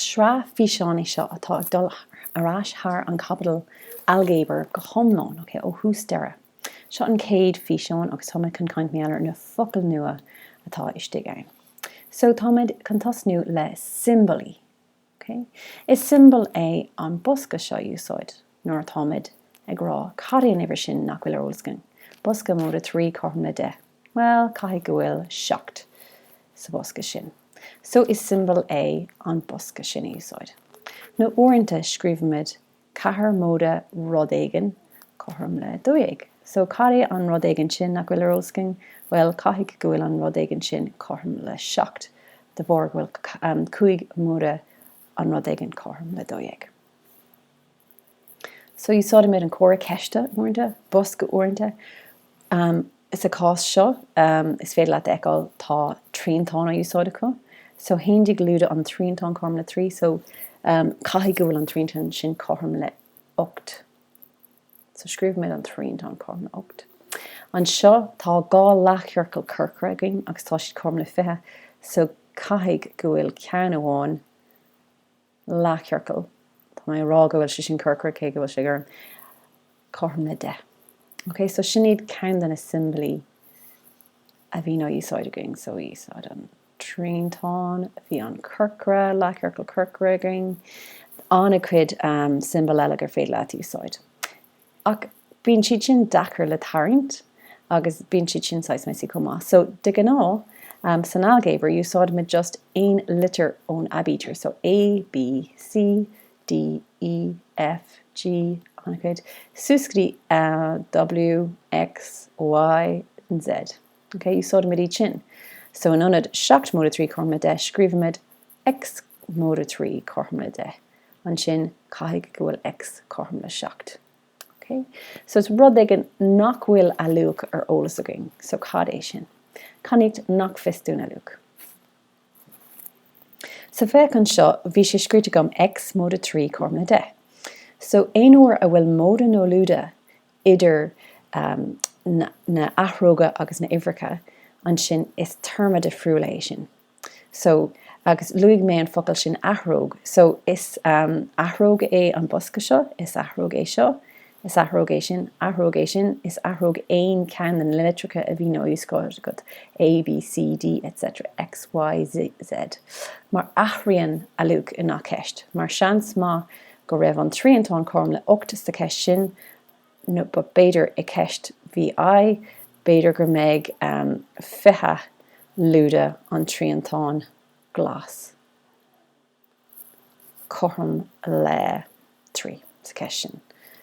Sraith físeán í seo atá ag dul ar ais thar an chaibidil ailgéabair go hiomlán, ó thús deireadh. Seo an chéad físeán agus táimid chun caint mar gheall ar na focail nua atá istigh ann. So táimid chun tosnú le siombailí. Is siombail é an bosca seo a úsáid nuair atáimid ag rá cad é an uimhir sin nach bhfuil ar eolas againn, bosca móide trí cothrom le deich. Bhuel, caithfidh go bhfuil seacht sa bhosca sin, so is siombail é an bosca sin a úsáid. Nó uaireanta scríobhaimid ceathair móide rud éigin cothrom le dó dhéag, so cad é an rud éigin sin nach bhfuil ar eolas againn? Bhuel, caithfidh go bhfuil an rud éigin sin cothrom le seacht de bharr go bhfuil cúig móide an rud éigin cothrom le dó dhéag. So úsáidimid an comhartha ceiste uaireanta, bosca uaireanta. Sa chás seo, is féidir leat a fheiceáil, tá triantán á úsáid acu. So haon déag lúide an triantán cothrom le trí. So caithfidh go bhfuil an triantán sin cothrom le hocht. So scríobhaimid an triantán cothrom le hocht. Anseo, tá dhá leathchiorcal corcra againn agus tá siad cothrom le fiche. So caithfidh go bhfuil ceann amháin leathchiorcal, tá mé ag rá go bhfuil sé sin corcra cé go bhfuil sé gorm, cothrom le deich. Ok, so sin iad ceann de na siombailí a bhíonn á úsáid againn. So úsáid an triantán, bhí an corcra, leathchiorcal corcra againn, an-chuid siombail eile gur féidir leat úsáid. Ach bíonn siad sin deacair le tarraingt agus bíonn siad sin saghas messy chomh maith. So, de ghnáth, san ailgéabar, úsáidimid just aon litir ón aibítir, so A, B, C, D, E, F, G, ar aghaidh suas go dtí W, X, Y, and Z. Okay? Úsáidimid iad sin. So, in ionad seacht móide trí cothrom le deich, scríobhaimid X móide 3 cothrom le 10, ansin caithfidh go bhfuil X cothrom le 7. Ok? So is rud éigin nach bhfuil a luach ar eolas againn. So cad é sin? Cainníocht nach fios dúinn a luach. So féach anseo, bhí sé scríofa agam X móide 3 cothrom le 10. So aon uair a bhfuil móide nó lúide idir um, na, na athróga agus na uimhreacha, ansin is téarma difriúil é sin. So, agus luaigh mé an focal sin athróg. So, is athróg é an bosca seo, is athróg é seo, is athróg é sin, athróg é sin, is athróg aon cheann de na litreacha a bhíonn á úsáid agat, A, B, C, D, etc, X, Y, Z. Mar athraíonn a luach i ngach ceist. Mar seans maith go raibh an triantán cothrom le 8 sa cheist sin nó b'fhéidir i gceist B I, b'fhéidir go mbeidh fiche lúide an triantán glas cothrom le trí sa ceist sin.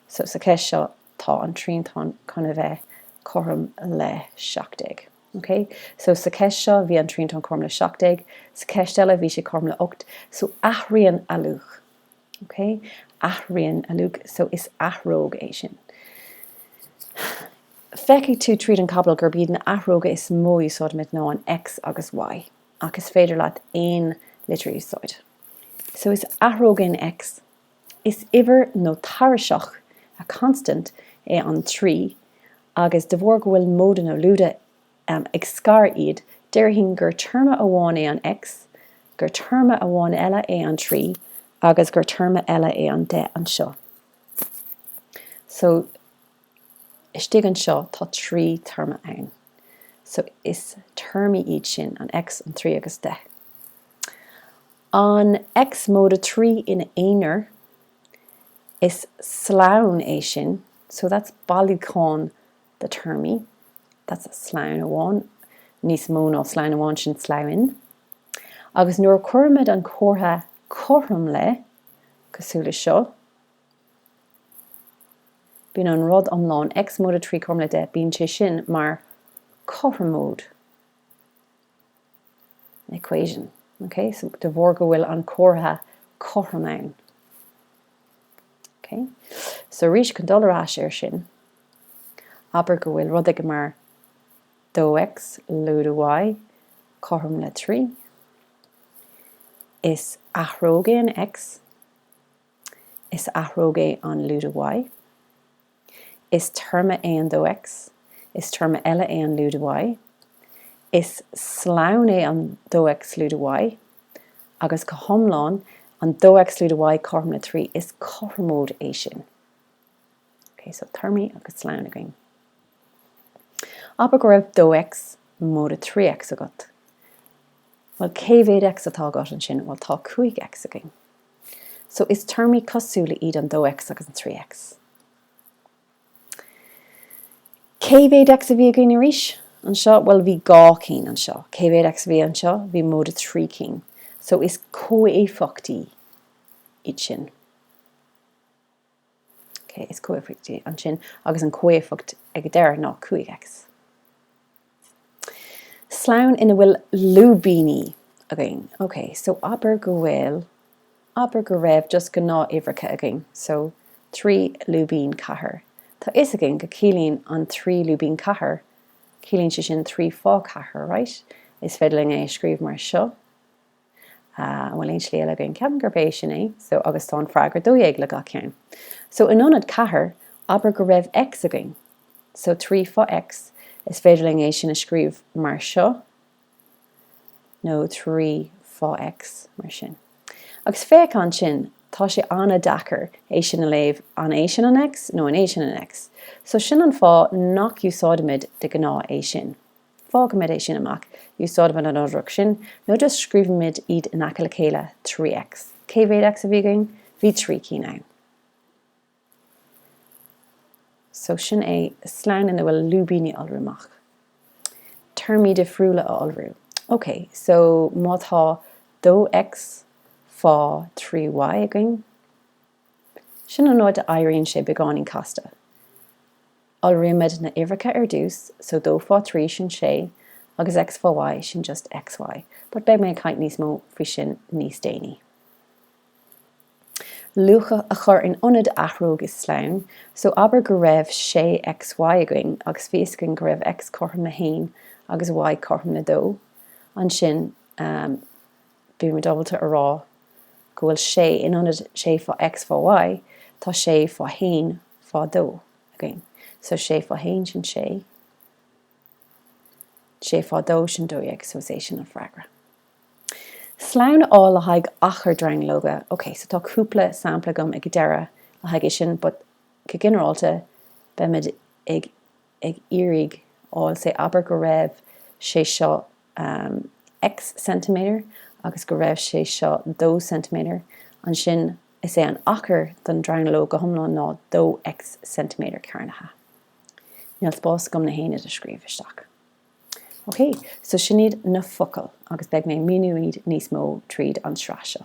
So sa ceist seo tá an triantán chun a bheith cothrom le seacht déag. OK? So sa ceist seo bhí an triantán cothrom le seacht déag, sa ceist eile bhí sé cothrom le ocht, so athraíonn a luach. OK? Athraíonn a luach so is athróg é sin. Feicfidh tú tríd an chaibidil gurb iad na athróga is mó a úsáidimid ná X agus Y, ach is féidir leat aon litir a úsáid. So is athróg é an X, is uimhir nó tairiseach, a constant, é an 3 agus de bharr go bhfuil móide nó lúide ag scaradh iad, déarfainn gur téarma amháin é an X, gur téarma amháin eile é an trí agus gur téarma eile é an deich anseo. So, istigh anseo tá trí théarma ann. So, is téarmaí iad sin, an X, an trí agus deich. An X móide trí ina aonar, is slonn é sin, so that's bailiúchán de théarmaí, that's a slonn amháin, níos mó ná slonn amháin, sin sloinn. Agus nuair a chuirimid an comhartha cothrom le, cosúil le seo, bíonn an rud iomlán, X móide trí cothrom le deich, bíonn sé sin mar chothromóid. equation, ok, so de bharr go bhfuil an comhartha cothrom ann. ok, so arís chun dul ar ais ar sin, abair go bhfuil rud agat mar 2x lúide y cothrom le 3, is athróg é an x, is athróg é an lúide y, Is téarma é an dó X. Is téarma eile é an lúide Y. Is slonn é an dó X lúide Y. Agus go hiomlán, an dó X lúide Y cothrom le trí, is cothromóid é sin. Ok, so téarmaí agus slonn againn. Abair go raibh dó X móide trí X agat. Bhuel, cé mhéad X atá agat ansin? Bhuel, tá cúig X againn. So, is téarmaí cosúla iad an dó X agus an trí X. Cé mhéad X a bhí againn arís? anseo? Bhuel, bhí dhá cinn anseo. Cé mhéad X a bhí anseo? Bhí móide trí cinn. So, is comhéifeachtaí iad sin. Ok, is comhéifeacht é ansin agus an comhéifeacht ag an deireadh ná 5X. Slonn ina bhfuil lúibíní againn. Ok, so abair go bhfuil, abair go raibh just gnáth-uimhreacha againn, so trí lúibín ceathair. Tá fhios againn go ciallaíonn an trí lúibín ceathair, ciallaíonn sé sin trí fá ceathair, right? Is féidir linn é a scríobh mar seo. Ah, an bhfuil aon slí eile againn? Ceapaim gurb é sin é. So, agus tá an freagra dó dhéag le gach ceann. So, in ionad ceathair, abair go raibh X againn. So, trí fá X, is féidir linn é sin a scríobh mar seo, nó trí fá X, mar sin. Agus féach ansin, tá sé an-deacair é sin a léamh, an é sin an X nó an é sin an X? So, sin an fáth nach úsáidimid de ghnáth é sin. Fágaimid é sin amach, úsáidimid an fhothrach sin, nó just scríobhaimid iad in aice le chéile, 3X. Cé mhéad X a bhí againn? Bhí trí cinn ann. So sin é slonn ina bhfuil lúibíní a iolrú amach. Téarmaí difriúla a iolrú. Ok, so má tá 2X fá 3Y againn, sin an uair a éiríonn sé beagáinín casta. Iolraímid na huimhreacha ar dtús, so dó fá thrí sin sé agus X fá Y sin just XY, but beidh mé ag caint níos mó faoi sin níos déanaí. luacha a chur in ionad athróg i slonn, so abair go raibh sé XY againn agus fios againn go raibh X cothrom le haon agus Y cothrom le dó, ansin bímid ábalta a rá go bhfuil sé in ionad sé fá X fá Y tá sé fá haon fá dó. againn. So sé fá haon sin sé, sé fá dó sin dó dhéag, so is é sin an freagra. Slonn a fháil le haghaidh achar dronuilleoga, ok, so tá cúpla sampla agam ag deireadh le haghaidh é sin but go ginearálta beimid ag iarraidh fháil say abair go raibh sé seo X centimetre agus go raibh sé seo dó centimetre ansin Is é an achar don dronuilleog go hiomlán ná 2 X centimetre cearnaithe. Níl spás agam na haonaid a scríobh isteach. Ok, so sin iad na focail agus beidh mé ag míniú iad níos mó tríd an tsraith seo.